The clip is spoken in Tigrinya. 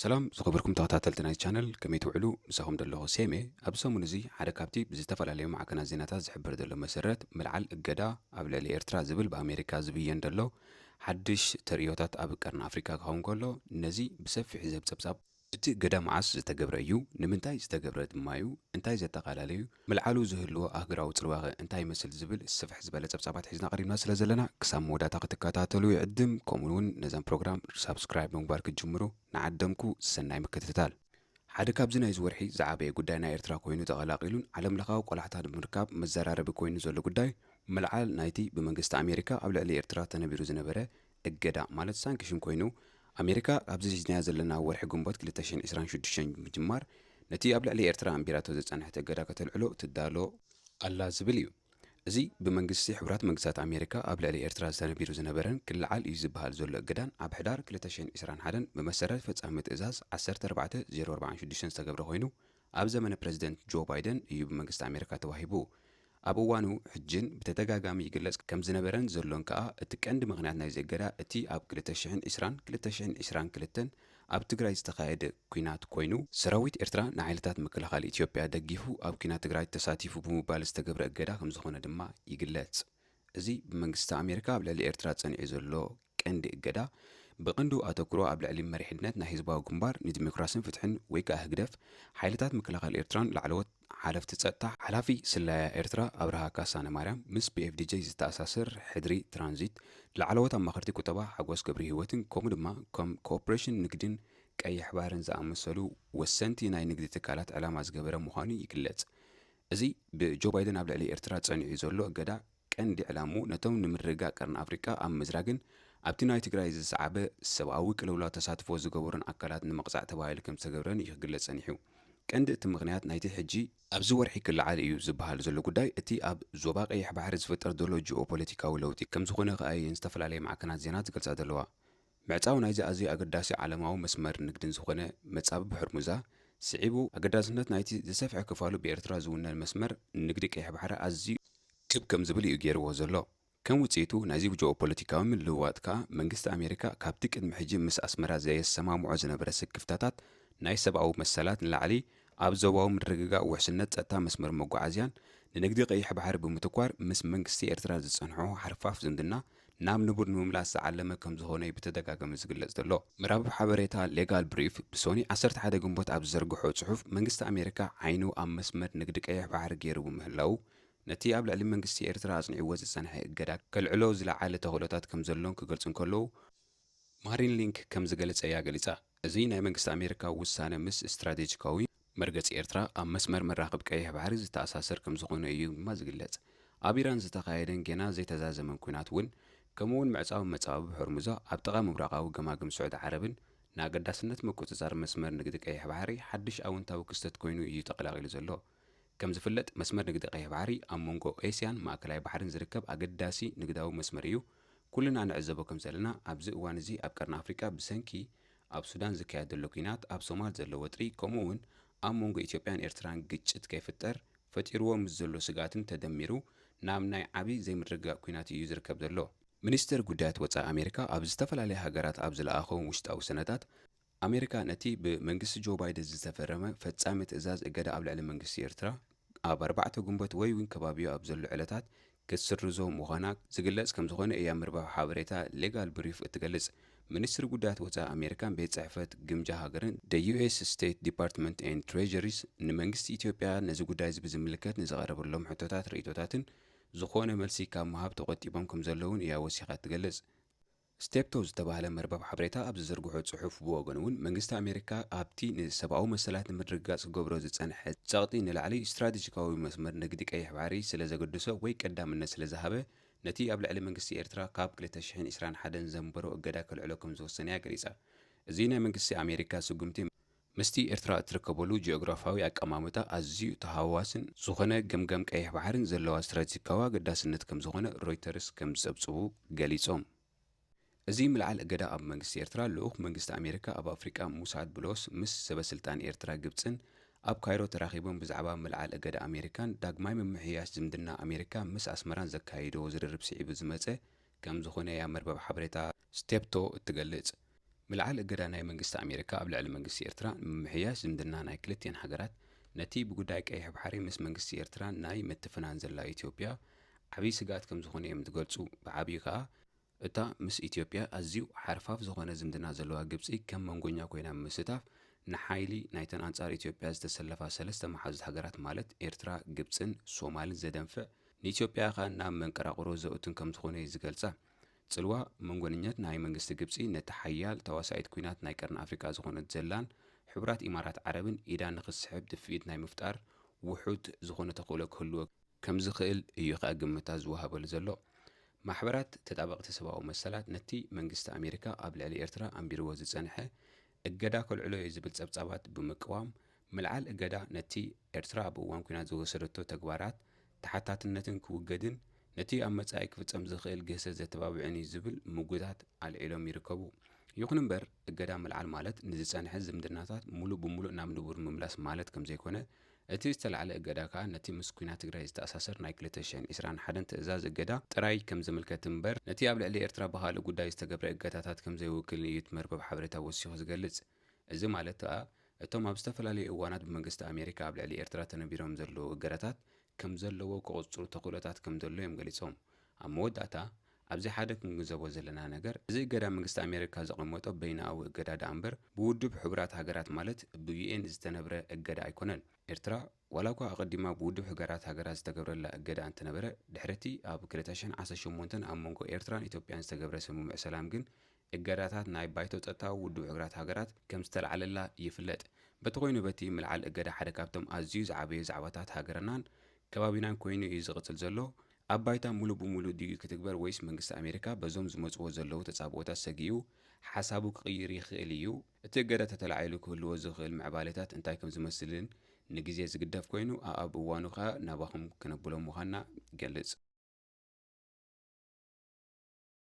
ሰላም ዝኸበርኩም ተኸታተልቲ ናይዚ ቻነል ከመይ ትውዕሉ ምሳኹም ደለኹ ሴም እየ ኣብዚ ሰሙን እዚ ሓደ ካብቲ ብዝተፈላለዩ ማዕከናት ዜናታት ዝሕበር ዘሎ መሰረት ምልዓል እገዳ ኣብ ልዕሊ ኤርትራ ዝብል ብኣሜሪካ ዝብየን ደሎ ሓድሽ ተርእዮታት ኣብ ቀርኒ ኣፍሪቃ ክኸውን ከሎ ነዚ ብሰፊሑ ዝህብ ጸብጻብ እቲ እገዳ መዓስ ዝተገብረ እዩ ንምንታይ ዝተገብረ ድማዩ እንታይ ዘጠቓላለ እዩ ምልዓሉ ዝህልዎ ኣህግራዊ ጽልዋኸ እንታይ ይመስል ዝብል ስፍሕ ዝበለ ጸብጻባት ሒዝና ቀሪብና ስለ ዘለና ክሳብ መወዳእታ ክትከታተሉ ይዕድም ከምኡ ውን ነዛ ፕሮግራም ሳብስክራይብ ብምግባር ክትጅምሩ ንዓደምኩ ሰናይ ምክትታል። ሓደ ካብዚ ናይዚ ወርሒ ዝዓበየ ጉዳይ ናይ ኤርትራ ኮይኑ ተቐላቒሉን ዓለምለኻዊ ቆላሕታ ንምርካብ መዘራረቢ ኮይኑ ዘሎ ጉዳይ ምልዓል ናይቲ ብመንግስቲ ኣሜሪካ ኣብ ልዕሊ ኤርትራ ተነቢሩ ዝነበረ እገዳ ማለት ሳንክሽን ኮይኑ፣ ኣሜሪካ ካብዚ ሒዝናዮ ዘለና ወርሒ ግንቦት ክልተ ሽሕን ዕስራን ሽዱሽተን ብምጅማር ነቲ ኣብ ልዕሊ ኤርትራ ኣንቢራቶ ዝጸንሐት እገዳ ከተልዕሎ ትዳሎ ኣላ ዝብል እዩ። እዚ ብመንግስቲ ሕቡራት መንግስታት ኣሜሪካ ኣብ ልዕሊ ኤርትራ ዝተነቢሩ ዝነበረን ክለዓል እዩ ዝበሃል ዘሎ እገዳን ኣብ ሕዳር ክልተ ሽሕን ዕስራን ሓደን ብመሰረት ፈጻሚ ትእዛዝ ዓሰርተ ኣርባዕተ ዜሮ ኣርባዓን ሽዱሽተን ዝተገብረ ኮይኑ፣ ኣብ ዘመነ ፕረዚደንት ጆ ባይደን እዩ ብመንግስቲ ኣሜሪካ ተዋሂቡ። ኣብ እዋኑ ሕጅን ብተደጋጋሚ ይግለጽ ከምዝነበረን ዘሎን ከኣ እቲ ቀንዲ ምኽንያት ናይዚ እገዳ እቲ ኣብ ክልተ ሽሕን ዕስራን ክልተ ሽሕን ዕስራን ክልተን ኣብ ትግራይ ዝተኻየደ ኲናት ኮይኑ፣ ሰራዊት ኤርትራ ንሓይልታት ምክልኻል ኢትዮጵያ ደጊፉ ኣብ ኲናት ትግራይ ተሳቲፉ ብምባል ዝተገብረ እገዳ ከምዝኾነ ድማ ይግለጽ። እዚ ብመንግስቲ ኣሜሪካ ኣብ ልዕሊ ኤርትራ ጸኒዑ ዘሎ ቀንዲ እገዳ፣ ብቐንዱ ኣተኩሮ ኣብ ልዕሊ መሪሕነት ናይ ህዝባዊ ግንባር ንዲሞክራስን ፍትሕን ወይ ከኣ ህግደፍ፣ ሓይልታት ምክልኻል ኤርትራን ላዕለዎት ሓለፍቲ ጸጥታ፣ ሓላፊ ስለያ ኤርትራ ኣብርሃ ካሳነማርያም፣ ምስ ፒኤፍዲጀይ ዝተኣሳሰር ሕድሪ ትራንዚት፣ ላዕለዎት ኣማኸርቲ ቁጠባ ሓጎስ ገብርሂወትን ከምኡ ድማ ከም ኮኦፕሬሽን ንግዲን ቀይሕ ባሕርን ዝኣመሰሉ ወሰንቲ ናይ ንግዲ ትካላት ዕላማ ዝገበረ ምዃኑ ይግለጽ። እዚ ብጆ ባይደን ኣብ ልዕሊ ኤርትራ ጸኒዑ ዘሎ እገዳ፣ ቀንዲ ዕላምኡ ነቶም ንምርግጋእ ቀርኒ ኣፍሪቃ ኣብ ምዝራግን ኣብቲ ናይ ትግራይ ዝሰዓበ ሰብኣዊ ቅልውላው ተሳትፎ ዝገበሩን ኣካላት ንምቕጻዕ ተባሂሉ ከምዝተገብረን እዩ ክግለጽ ጸኒሑ። ቀንዲ እቲ ምኽንያት ናይቲ ሕጂ፣ ኣብዚ ወርሒ ክለዓል እዩ ዝበሃል ዘሎ ጉዳይ እቲ ኣብ ዞባ ቀይሕ ባሕሪ ዝፍጠር ዘሎ ጂኦ-ፖለቲካዊ ለውጢ ከምዝኾነ ከኣ እየን ዝተፈላለያ ማዕከናት ዜና ዝገልጻ ዘለዋ። ምዕጻው ናይዚ ኣዝዩ ኣገዳሲ ዓለማዊ መስመር ንግድን ዝኾነ መጻብብ ሆርሙዛ ስዒቡ፣ ኣገዳስነት ናይቲ ዝሰፍሐ ክፋሉ ብኤርትራ ዝውነን መስመር ንግዲ ቀይሕ ባሕሪ ኣዝዩ። ክብ ከም ዝብል እዩ ገይርዎ ዘሎ። ከም ውጽኢቱ ናይዚ ጂኦፖለቲካዊ ምልውዋጥ ከኣ፣ መንግስቲ ኣሜሪካ ካብቲ ቅድሚ ሕጂ ምስ ኣስመራ ዘየሰማምዖ ዝነበረ ስክፍታታት ናይ ሰብኣዊ መሰላት ንላዕሊ፣ ኣብ ዞባዊ ምርግጋእ ውሕስነት ጸጥታ መስመር መጓዓዝያን ንንግዲ ቀይሕ ባሕሪ ብምትኳር ምስ መንግስቲ ኤርትራ ዝጸንሖ ሓርፋፍ ዝምድና ናብ ንቡር ንምምላስ ዝዓለመ ከምዝኾነ'ዩ ብተደጋጋሚ ዝግለጽ ዘሎ። መራብብ ሓበሬታ ሌጋል ብሪፍ ብሶኑይ ዓሰርተ ሓደ ግንቦት ኣብ ዝዘርግሖ ጽሑፍ፣ መንግስቲ ኣሜሪካ ዓይኑ ኣብ መስመር ንግዲ ቀይሕ ባሕሪ ገይሩ ብምህላዉ፣ ነቲ ኣብ ልዕሊ መንግስቲ ኤርትራ ኣጽኒዕዎ ዝጸንሐ እገዳ ከልዕሎ ዝለዓለ ተኽእሎታት ከምዘሎን ክገልጹ እንከለዉ፣ ማሪን ሊንክ ከም ዝገለጸያ ገሊጻ። እዚ ናይ መንግስቲ ኣሜሪካ ውሳነ ምስ ስትራቴጂካዊ መርገጺ ኤርትራ ኣብ መስመር መራኽብ ቀይሕ ባሕሪ ዝተኣሳሰር ከም ዝኾነ እዩ ድማ ዝግለጽ። ኣብ ኢራን ዝተኻየደን ጌና ዘይተዛዘመን ኲናት እውን ከምኡ'ውን ምዕጻው መጻብብ ሆርሙዛ ኣብ ጥቓ ምብራቓዊ ገማግም ስዑዲ ዓረብን፣ ንኣገዳስነት ምቁጽጻር መስመር ንግዲ ቀይሕ ባሕሪ ሓድሽ ኣወንታዊ ክስተት ኮይኑ እዩ ተቐላቒሉ ዘሎ። ከም ዝፍለጥ መስመር ንግዲ ቀይሕ ባሕሪ ኣብ መንጎ ኤስያን ማእከላይ ባሕርን ዝርከብ ኣገዳሲ ንግዳዊ መስመር እዩ። ኩልና ንዕዘቦ ከም ዘለና ኣብዚ እዋን እዚ ኣብ ቀርኒ ኣፍሪቃ ብሰንኪ ኣብ ሱዳን ዝካየድ ዘሎ ኲናት፣ ኣብ ሶማል ዘሎ ወጥሪ ከምኡ እውን ኣብ መንጎ ኢትዮጵያን ኤርትራን ግጭት ከይፍጠር ፈጢርዎ ምስ ዘሎ ስግኣትን ተደሚሩ ናብ ናይ ዓቢ ዘይምርግጋእ ኲናት እዩ ዝርከብ ዘሎ። ሚኒስተር ጉዳያት ወጻኢ ኣሜሪካ ኣብ ዝተፈላለያ ሃገራት ኣብ ዝለኣኾም ውሽጣዊ ሰነዳት፣ ኣሜሪካ ነቲ ብመንግስቲ ጆ ባይደን ዝተፈረመ ፈጻሚ ትእዛዝ እገዳ ኣብ ልዕሊ መንግስቲ ኤርትራ ኣብ ኣርባዕተ ግንቦት ወይ'ውን ከባቢኡ ኣብ ዘሎ ዕለታት ክትስርዞ ምዃና ዝግለጽ ከምዝኾነ እያ ምርባብ ሓበሬታ ሌጋል ብሪፍ እትገልጽ። ሚኒስትሪ ጉዳያት ወጻኢ ኣሜሪካን ቤት ጽሕፈት ግምጃ ሃገርን The US State Department and Treasury's ንመንግስቲ ኢትዮጵያ ነዚ ጉዳይ'ዚ ብዝምልከት ንዝቐረበሎም ሕቶታት ርእይቶታትን ዝኾነ መልሲ ካብ ምሃብ ተቖጢቦም ከምዘለዉን እያ ወሲኻ እትገልጽ። ስቴፕቶ ዝተባህለ መርበብ ሓበሬታ ኣብ ዝዘርግሖ ጽሑፍ ብወገኑ'ውን መንግስቲ ኣሜሪካ ኣብቲ ንሰብኣዊ መሰላት ንምርግጋጽ ክገብሮ ዝጸንሐ ጸቕጢ ንላዕሊ ስትራቴጂካዊ መስመር ንግዲ ቀይሕ ባሕሪ ስለ ዘገደሶ ወይ ቀዳምነት ስለ ዝሃበ ነቲ ኣብ ልዕሊ መንግስቲ ኤርትራ ካብ ክልተ ሽሕን ዕስራን ሓደን ዘንበሮ እገዳ ከልዕሎ ከም ዝወሰነ'ያ ገሊጻ። እዚ ናይ መንግስቲ ኣሜሪካ ስጉምቲ፣ ምስቲ ኤርትራ እትርከበሉ ጂኦግራፍያዊ ኣቀማምጣ ኣዝዩ ተሃዋዋስን ዝኾነ ገምጋም ቀይሕ ባሕርን ዘለዋ ስትራቴጂካዊ ኣገዳስነት ከምዝኾነ ሮይተርስ ከምዝጸብጽቡ ገሊጾም። እዚ ምልዓል እገዳ ኣብ መንግስቲ ኤርትራ ልኡኽ መንግስቲ ኣሜሪካ ኣብ ኣፍሪቃ ሙሳድ ብሎስ ምስ ሰበስልጣን ኤርትራ ግብጽን ኣብ ካይሮ ተራኺቦም ብዛዕባ ምልዓል እገዳ ኣሜሪካን ዳግማይ ምምሕያሽ ዝምድና ኣሜሪካ ምስ ኣስመራን ዘካየድዎ ዝርርብ ስዒቡ ዝመጸ ከም ዝኹነ እያ መርበብ ሓበሬታ ስቴፕቶ እትገልጽ። ምልዓል እገዳ ናይ መንግስቲ ኣሜሪካ ኣብ ልዕሊ መንግስቲ ኤርትራ፣ ንምምሕያሽ ዝምድና ናይ ክልቲኤን ሃገራት፣ ነቲ ብጉዳይ ቀይሕ ባሕሪ ምስ መንግስቲ ኤርትራ ናይ ምትፍናን ዘላ ኢትዮጵያ ዓብይ ስግኣት ከም ዝኹነ እዮም ዝገልጹ። ብዓብዩ ከኣ፣ እታ ምስ ኢትዮጵያ ኣዝዩ ሓርፋፍ ዝኾነ ዝምድና ዘለዋ ግብጺ ከም መንጎኛ ኮይና ብምስታፍ፣ ንሓይሊ ናይተን ኣንጻር ኢትዮጵያ ዝተሰለፋ ሰለስተ መሓዙት ሃገራት ማለት ኤርትራ፣ ግብጽን ሶማልን ዘደንፍዕ፣ ንኢትዮጵያ ከኣ ናብ መንቀራቕሮ ዘእቱን ከም ዝኾኑ'የ ዝገልጻ። ጽልዋ መንጎንኘት ናይ መንግስቲ ግብጺ ነቲ ሓያል ተዋሳኢት ኩናት ናይ ቀርኒ ኣፍሪቃ ዝኾነት ዘላን ሕቡራት ኢማራት ዓረብን ኢዳ ንኽትስሕብ ድፍኢት ናይ ምፍጣር ውሑድ ዝኾነ ተኽእሎ ክህልዎ ከም ዝኽእል እዩ ከኣ ግምታት ዝወሃበሉ ዘሎ። ማሕበራት ተጣበቕቲ ሰብኣዊ መሰላት ነቲ መንግስቲ ኣሜሪካ ኣብ ልዕሊ ኤርትራ ኣንቢርዎ ዝጸንሐ እገዳ ከልዕሎ እየ ዝብል ጸብጻባት ብምቅዋም፣ ምልዓል እገዳ ነቲ ኤርትራ ኣብ እዋን ኲናት ዝወሰደቶ ተግባራት ተሓታትነትን ክውገድን ነቲ ኣብ መጻኢ ክፍጸም ዝኽእል ግህሰት ዘተባብዕን እዩ ዝብል ምጉታት ኣልዒሎም ይርከቡ። ይኹን እምበር እገዳ ምልዓል ማለት ንዝጸንሐ ዝምድናታት ምሉእ ብምሉእ ናብ ንቡር ምምላስ ማለት ከምዘይኮነ እቲ ዝተላዕለ እገዳ ከኣ ነቲ ምስ ኩናት ትግራይ ዝተኣሳሰር ናይ ክልተ ሽሕን ዕስራን ሓደን ትእዛዝ እገዳ ጥራይ ከም ዝምልከት እምበር ነቲ ኣብ ልዕሊ ኤርትራ ብኻልእ ጉዳይ ዝተገብረ እገዳታት ከም ዘይውክልን እዩ እቲ መርበብ ሓበሬታ ወሲኹ ዝገልጽ። እዚ ማለት ከኣ እቶም ኣብ ዝተፈላለዩ እዋናት ብመንግስቲ ኣሜሪካ ኣብ ልዕሊ ኤርትራ ተነቢሮም ዘለዉ እገዳታት ከምዘለዎ ክቕጽሩ ተኽእሎታት ከምዘሎ እዮም ገሊጾም። ኣብ መወዳእታ፣ ኣብዚ ሓደ ክንግንዘቦ ዘለና ነገር፣ እዚ እገዳ መንግስቲ ኣሜሪካ ዘቐመጦ በይናኣዊ እገዳ ደኣምበር፣ ብውድብ ሕቡራት ሃገራት ማለት ብዩኤን ዝተነብረ እገዳ ኣይኮነን። ኤርትራ፣ ዋላኳ ኣቐዲማ ብውድብ ሕገራት ሃገራት ዝተገብረላ እገዳ እንተነበረ፣ ድሕሪ'ቲ ኣብ ክልተ ሽሕን ዓሰርተ ሸሞንተን ኣብ መንጎ ኤርትራን ኢትዮጵያን ዝተገብረ ስምምዕ ሰላም ግን እገዳታት ናይ ባይቶ ጸጥታ ውድብ ሕቡራት ሃገራት ከም ዝተላዕለላ ይፍለጥ። በቲ ኮይኑ በቲ ምልዓል እገዳ ሓደ ካብቶም ኣዝዩ ዝዓበዩ ዛዕባታት ሃገርናን ከባቢናን ኮይኑ እዩ ዝቕጽል ዘሎ። ኣብ ባይታ ምሉእ ብምሉእ ድዩ ክትግበር ወይስ መንግስቲ ኣሜሪካ በዞም ዝመጽዎ ዘለዉ ተጻብኦታት ሰጊኡ ሓሳቡ ክቕይር ይኽእል እዩ? እቲ እገዳ ተተላዒሉ ክህልዎ ዝኽእል ምዕባሌታት እንታይ ከም ዝመስልን ንግዜ ዝግደፍ ኮይኑ ኣኣብ እዋኑ ከኣ ናባኹም ክነብሎ ምዃንና ይገልጽ።